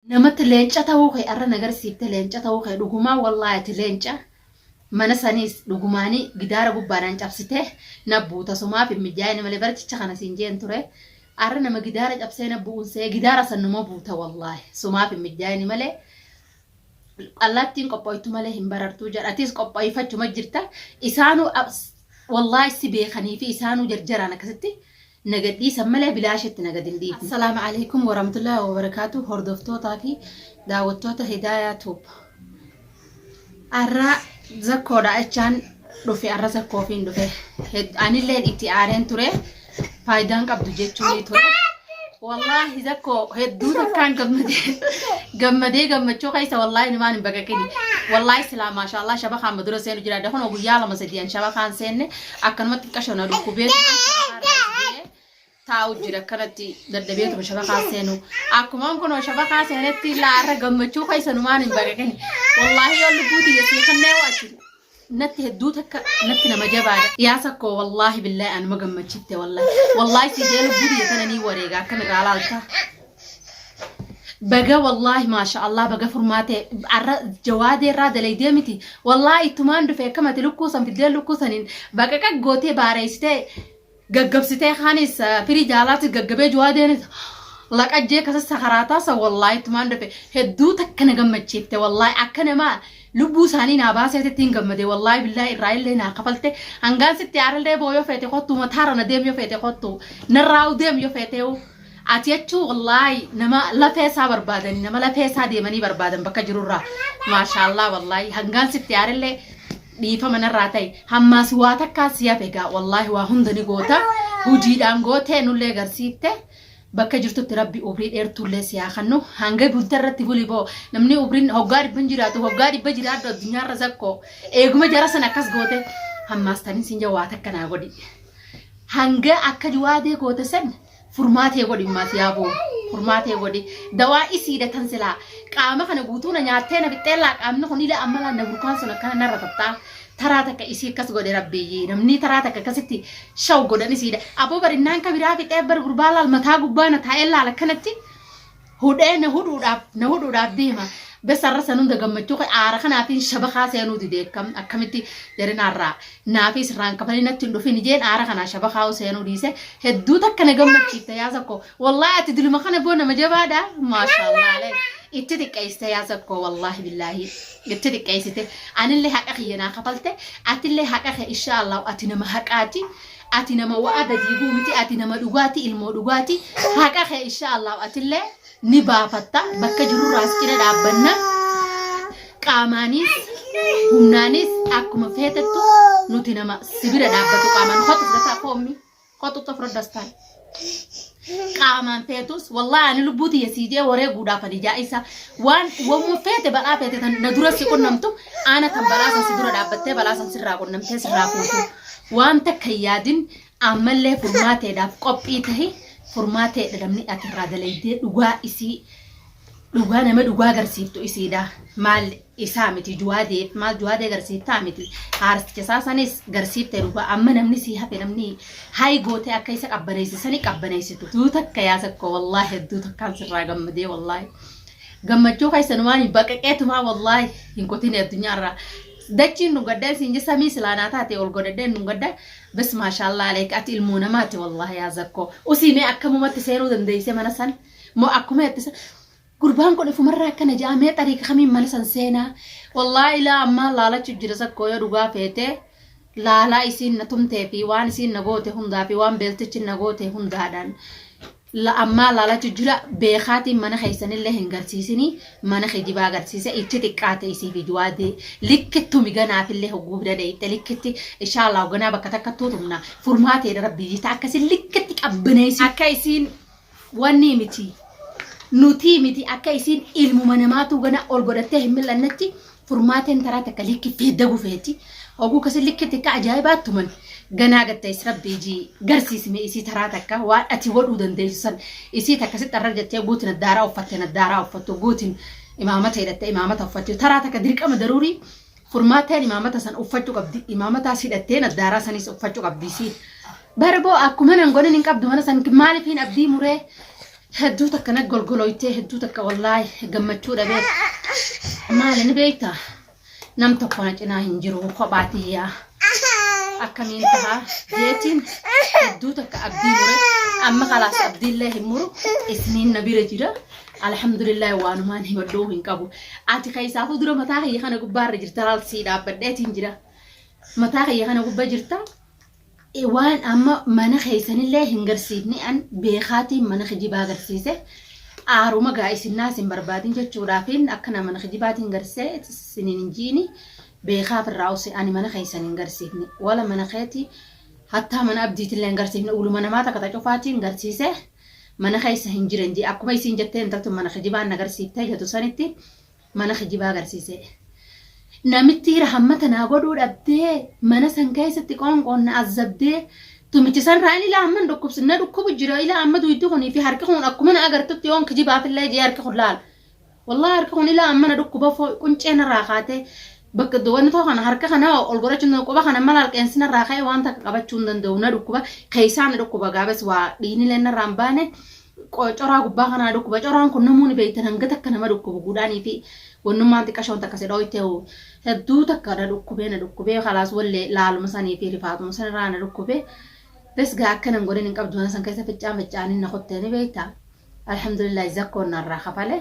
Namatti leenca ta'uu kee arra na garsiifte leenca ta'uu kee dhugumaa wallaahi ati leenca mana saniis dhugumaani gidaara gubbaadhaan cabsite na buuta somaaf hin mijaa'ine malee bara jecha kana siin jeen ture arra nama gidaara cabsee na bu'uun see gidaara san numa buuta wallaahi somaaf hin mijaa'ine malee allaattiin qophoytu malee hin barartuu jedha atiis qophoyfachuma jirta isaanuu wallaahi si beekanii fi isaanuu jarjaraan akkasitti nagadhiisan malee bilaashatti nagad hin dhiifne. Assalaamu Aleeykum Warahmatullaahi Wabarakaatuh Hordoftootaa fi daawwattoota Hidaayaa Tuub. Arraa zakkoodha jechaan dhufe arra zakkoofiin dhufe. Hed- Anilleen itti aareen ture faayidaan qabdu jechuun ture. Wallaahi zakkoo hedduu takkaan gammadee gammadee gammachuu keessa wallaahi numaan hin baqaqini. Wallaahi silaa maashaallah shabakaan madura seenu jira. Dakunoo guyyaa lama sadiyan shabakaan seenne akkanumatti xiqqasho na dhukkubee taa'u jira akkanatti dadhabeetuma shabakaa seenu akkumaan kunoo shabakaa seenetti laarra gammachuu keessanumaan hin baqaqin wallaahi yoo lubbuu tiyya sii kannee waati natti hedduu takka natti nama jabaadha dhiyaasa koo wallaahi billaahi anuma gammachitte wallaahi wallaahi sii jee lubbuu tiyya sana nii wareega akkan irraa laalta baga wallaahi maasha allah baga furmaate arra jawaadee irraa dalaydee miti wallaahi ittumaan dhufe akkamati lukkuu san fiddee lukkuu saniin baqaqa gootee baareessitee gaggabsitee kaanis firii jaalaatti gaggabee jawaadeenis laqajjee kasa sakaraataa san wallaahi ittumaan dhufe hedduu takka na gammachiifte wallaahi akka namaa lubbuu isaanii naa baaseetitti hin gammade wallaahi billaahi irraa illee naa kafalte hangaan sitti aarallee boo yoo feete kottu mataara na deem yoo feete kottu narraa deem yoo feetee Ati jechuu wallaahi nama lafee isaa barbaadani nama lafee isaa deemanii barbaadan bakka jirurraa maashaallah wallaahi hangaan sitti aarellee dhiifama narraa ta'e hammaas waa takkaa si hafe egaa wallaahi waa hunda ni goota hojiidhaan gootee nullee garsiifte bakka jirtutti rabbi umrii dheertuullee si haa kennu hanga gunta irratti buli boo namni umriin hoggaa dhibban jiraatu hoggaa dhibba jiraadhu addunyaarra zakkoo eeguma jara sana akkas goote hammaas tanin siin jawaa takka naa godhi. Hangaa akka jawaadee goote san furmaatee godhi immaas yaa boo furmaatee godhi dawaa isiidha tan silaa qaama kana guutuu na nyaattee na fixxeellaa qaamni kun ilaa ammalaa na burkaan sun akkana narra taphtaa taraa takka isii akkas godhe rabbiyyii namni taraa takka akkasitti shaw godhan isiidha aboo barinnaan kabiraa fixee bar gurbaa laal mataa gubbaa na taa'ee laal akkanatti hudhee na hudhuudhaaf na hudhuudhaaf deema bessa irra san hunda gammachuu kee aara kanaatiin shabakaa seenuu dide akkam akkamitti jarinaarraa naafii sirraan kafanii natti hin dhufin ijeen aara kanaa shabakaa seenuu dhiise hedduu takka na gammachiifte yaa sakko wallaahi ati diluma kana boo nama jabaadha maashaallah alee itti xiqqeessite yaa sakko wallaahi billaahi itti xiqqeessite anillee haqa kiyya naa kafalte atillee haqa kee inshaallah ati nama haqaati ati nama wa'ada diiguu miti ati nama dhugaati ilmoo dhugaati haqa kee insha Allah atillee ni baafatta bakka jirurraas cina dhaabbanna qaamaanis humnaanis akkuma feetettu nuti nama sibira dhaabbatu qaamaan kotu fudhataa koommi kotu xofra dastaan qaamaan feetus wallahi ani lubbuu tiyya sii jee waree guudhaaf ani jaa'isa waan wamma feete balaa feete tan na dura si qunnamtu aana tan balaa san si dura dhaabbattee balaa san sirraa qunnamtee sirraa fuutu waan takka hin yaadin ammallee furmaateedhaaf qophii tahi furmaateedha namni ati irraa dalaydee dhugaa isii dhugaa nama dhugaa agarsiiftu isiidha maal isaa miti juwaadee maal juwaadee garsiiftaa miti haarticha isaa sanis garsiifte dhugaa amma namni sii hafe namni hayi gootee akka isa qabbaneessi sani qabbaneessitu tuu takka yaa sakkoo wallaahi hedduu takkaan sirraa gammadee wallaahi gammachuu keessanumaan hin baqaqeetumaa wallaahi hin kotine addunyaarraa dachiin nu gaddaa isin je samii silaanaa taate ol godhadhee nu gaddaa bas maashaallaa aleek ati ilmoo namaati wallaahi yaa sakkoo usiimee akkamumatti seenuu dandeessee mana san moo akkuma itti Gurbaan kun ifumarraa akkana ja'a mee xariiqa kamiin mana san seenaa wallaahi ilaa ammaa laalachu jira sakkoo yoo dhugaa feete laalaa isiin na tumtee fi waan isiin na goote hundaa fi waan beeltichi na goote hundaadhaan la ammaa laalachu jira beekaatiin mana keessanillee hin garsiisini mana kijibaa garsiise ichi xiqqaate isii fi juwaadee likkittu miganaafillee hogguu bira dheeyxe likkitti ishaalaa hoganaa bakka takka tuutumna furmaateedha rabbii jita akkasi likkitti qabbaneessi akka isiin Wannii miti. Nutii miti akka isiin ilmuma namaatuu gana ol godhattee hin mil'annetti furmaateen taraa takka likki feeddagu feeti. Hoguu kasi likki tikka ajaa'ibaa tuman ganaa gattayis rabbi ijii garsiisime isii taraa takka waan ati godhuu dandeessu san isii takka sitti arrar jettee guutin addaaraa uffatte addaaraa uffattu guutin imaamata hidhatte imaamata uffattu taraa takka dirqama daruurii Furmaataan imaamata san uffachu qabdi. Imaamataas hidhattee naddaaraa sanis uffachu qabdi isiin. Barboo akkuma nan godhin hin qabdu mana san maalifiin abdii muree hedduu takka na golgolooytee hedduu takka wallaahi gammachuu dhabee maali ni beekta nam tokko na cinaa hin jiru kophaa tiyyaa akkamiin taha jeetiin hedduu takka abdii mure amma kalaas abdiillee hin muru isniin na bira jira Alhamdulillah waanumaan himadhuu hin qabu. Ati keessaafuu dura mataa kiyya kana gubbaa irra jirta laal sii dhaabbadheetiin jira. Mataa kiyya kana gubba jirta. E, Waan amma mana keessanillee hin garsiifne an beekaatiin mana kijibaa garsiise. Aaruma gaa isinnaa isin barbaadin jechuudhaafiin akkana mana kijibaatiin garsee isiniin hin jiini. Beekaaf irraa use ani mana keessan hin garsiifne. Wala mana keeti hattaa mana abdiitillee hin garsiifne. Uluma namaa takka ta cufaatiin garsiise. mana keessa hin jiran jee akkuma isiin jettee intaltun mana kijibaan nagarsiiftee jetu sanitti mana kijibaa garsiisee namittii rahammata naa godhuu dhabdee mana san keessatti qoonqoon na azzabdee tumichi san raan ilaa amman dhukkubs na dhukkubu jira ilaa amma duyddi kunii fi harki kun akkuma na agartutti yoon kijibaafillee jee harki kun laala Wallahi harki kun ilaa amma na dhukkuba foo quncee narraa kaatee bakka do- wanni too kana harka kana ol godhachuun danda'u quba kana mala alqeensi narraa ka'e waan takka qabachuu hin danda'u na dhukkuba keessaa na dhukkuba gaabes waa dhiinilee narraa hin baane qo- coraa gubbaa kana na dhukkuba coraan kun namuu ni beektan hanga takka nama dhukkubu guudhaanii fi wannummaan xiqqashoon takka si dhooyte hoo hedduu takka na dhukkubee na dhukkubee kalaas wallee laaluma sanii fi rifaatuma sanirraa na dhukkubee bes gaa akkanan godhin hin qabdu mana san keessa ficcaan ficcaanin na kottee ni beektaa Alhamdulillahi zakkoon narraa kafale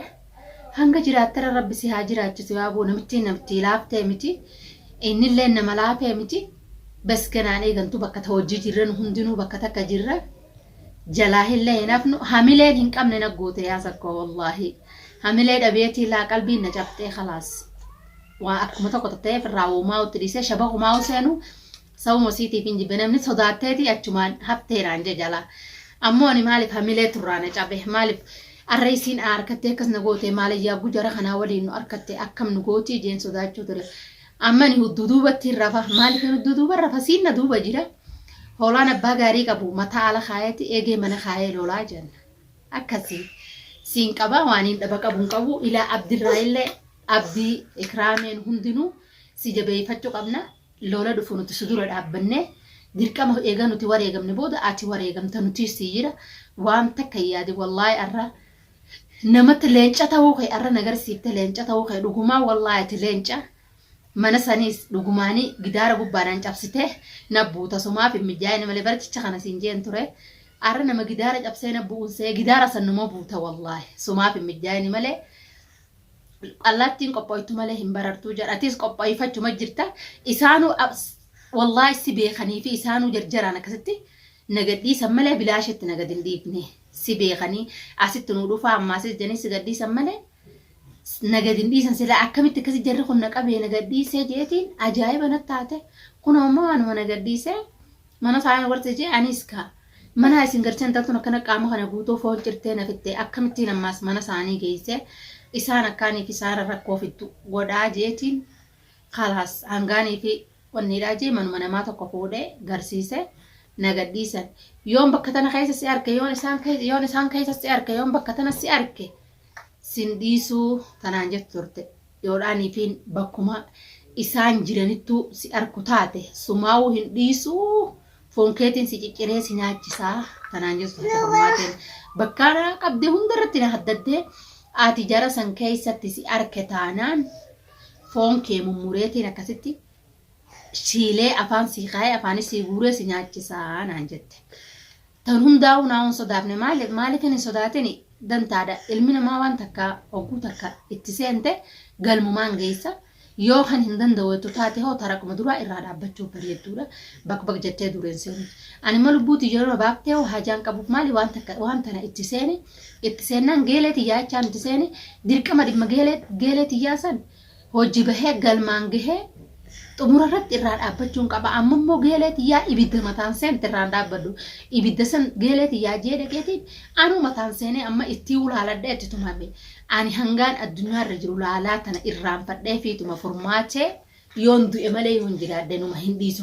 hanga jiraattera rabbi si haa jiraachisu yaa boo namittiin namittii laaftee miti innilleen nama laafee miti bes ganaan eegantu bakka ta hojjii jirra nu hundinuu bakka takka jirra jalaa hillee hin hafnu hamileen hin qabne na goote yaa zakkoo wallaahi hamilee dhabeetii laa qalbiin na cabxee kalaas waa akkuma tokko tatta'eef irraa woomaa utti dhiisee shaba kumaa useenu Sababuma isiitiifin jibbe namni sodaatteeti achumaan haftee naan jee jalaa ammoo ani maaliif hamilee turraa na cabe maaliif arra isiin aa arkattee akkas na goote maala yaabbu jara kanaa waliin nu arkatte akkam nu gootii jeen sodaachuu ture amma ani hudduu duubattiin rafa maaliifin hudduu duuban rafa siin na duuba jira hoolaan abbaa gaarii qabu mataa ala kaayeeti eegee mana kaayee lolaa jeen akkasii siin qabaa waaniin dhaba qabu hin qabu ilaa abdirraa illee abdii ikraameen hundinuu si jabeeyfachuu qabna Lola dhufu nuti si dura dhaabbannee dirqama eega nuti wareegamne booda ati wareegamta nutiis sii jira waan takka hin yaadin wallahi arra namatti leenca ta'uu kee arra na garsiifte leenca ta'uu kee dhugumaa wallahi ati leenca mana saniis dhugumaani gidaara gubbaadhaan cabsite na buuta somaaf hin mijaa'ine malee bara jecha kana siin jeen ture arra nama gidaara cabsee na bu'uun see gidaara san numa buuta wallahi somaaf hin mijaa'ine malee Allaattiin qophooytu malee hin barartuu jedha. Atis qophooyfachuma jirta. Isaanuu wallaahi si beekanii fi isaanuu jarjaraan akkasitti na gadhiisan malee bilaashetti na gad hin dhiifne. Si beekanii asitti nu dhufaa ammaa asis jedhanii si gadhiisan malee na gad hin dhiisan silaa akkamitti akkasi jarri kun na qabee na gadhiisee jeetiin ajaa'iba na taate. Kun ammoo waanuma na gadhiisee Mana faaya warqii jee aniis kaa manaa isin galchee intaltun akkana qaama kana guutuu foon cirtee na fixxee akkamittiin ammaas mana isaanii geessee isaan akkaanii kisaara rakkoo fiddu godhaa jeetiin kalaas hangaanii fi wanniidhaa jee manuma namaa tokko fuudhee garsiisee na gadhiisan yoon bakka tana keessa si arke yoon isaan keessa yoon isaan keessa si arke yoon bakka tana si arke sin dhiisuu tanaan jettu turte. yoodhaan ifiin bakkuma isaan jiranittuu si arku taate sumaawuu hin dhiisuu foon keetiin si cicciree si nyaachisaa tanaan jettu taate furmaateen bakkaa na qabde hundarratti na haddaddee ati jara san keessatti si arke taanaan foon kee mummureetiin akkasitti siilee afaan sii kaayee afaanis sii guuree si nyaachisaa naan jette. Tan hundaa hunaa hun sodaafne maaliif maaliifin hin sodaatini dantaadha ilmi namaa waan takka hogguu takka itti seente galmumaan geessa yoo kan hin danda'u jettu taate hoo taraquma duraa irraa dhaabbachuu bareedduudha bakbak jettee dureen seenu ani ma lubbuu tiyya irra baaftee hoo hajaan qabuuf maali waan takka waan tana itti seeni itti seennaan geelee tiyyaa jechaan itti seeni dirqama dhimma geelee geelee tiyyaa san hojji bahee galmaan gahee xumura irratti irraa dhaabbachuun qaba amma immoo geelee tiyyaa ibidda mataan seente irraan dhaabbadhu ibidda san geelee tiyyaa jee dhaqeetiin anuu mataan seenee amma ittii ulaaladhee itti tumame ani hangaan addunyaa irra jiru laalaa tana irraanfadhee fiituma furmaachee yoon du'e malee yoon jiraadhe numa hin dhiisu